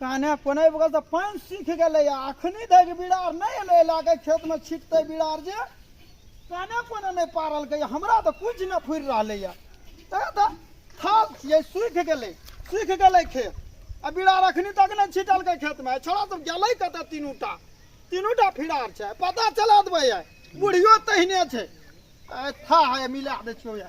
कान्हे कोने बगल से पानि सीख गेले या अखनी धरि बिरार नहीं एले एला के खेत में छिटते बिरार जे कान्हे कोने नहीं पारल के हमरा तो कुछ न फुर रहले या तो थाल ये सूख गेले सूख गेले खेत आ बिरार अखनी तक नहीं छिटल के खेत में छोड़ा तो गेले कत तीनूटा तीनूटा फिरार छे पता चला देबे बुढ़ियो तहने छे था है मिला दे छियो या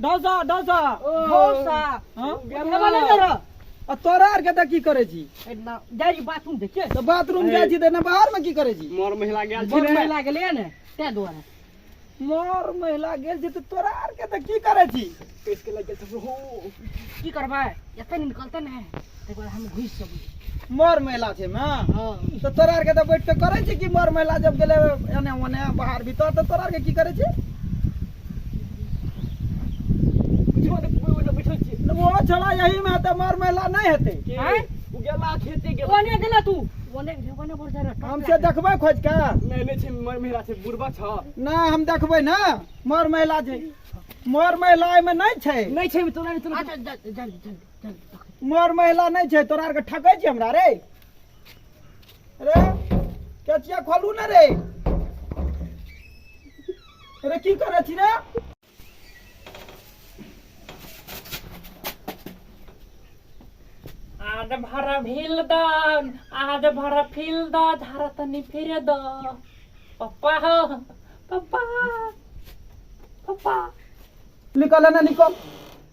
डोसा डोसा डोसा हाँ? आ तोरा आर के की करे छी जाय छी बाथरूम देखे तो बाथरूम जाय छी देना बाहर में की करे छी मोर महिला गेल छी मोर महिला गेले ने ते द्वारा मोर महिला गेल छी तो तोरा आर के की करे छी इसके लगे तो हो की करबे एते निकलते ने एक बार हम घुस सब मर महिला छै ना हां तो तोरा के तो बैठ के करे छी कि मर महिला जब गेले एने ओने बाहर भीतर तो तोरा के की करे छी बुझो ने कोई ओने बैठल छी वो चला यही में तो मर महिला नहीं हेते हैं उ गेला खेते गेला ओने गेला तू ओने ओने बोल जा हम से देखबे खोज के नहीं नहीं छै मर महिला छै बुढ़बा छ ना हम देखबे ना मर महिला छै मर महिला में नहीं छै नहीं छै तोरा नहीं तोरा अच्छा जल्दी जल्दी मर महिला नहीं छे तोरा आरके ठकै छी हमरा रे रे केचिया खोलू ने रे रे की करै छी रे आज भर भील द आज भर फील द धारा तनी फिर द पप्पा हो पप्पा पप्पा निकल ना निकल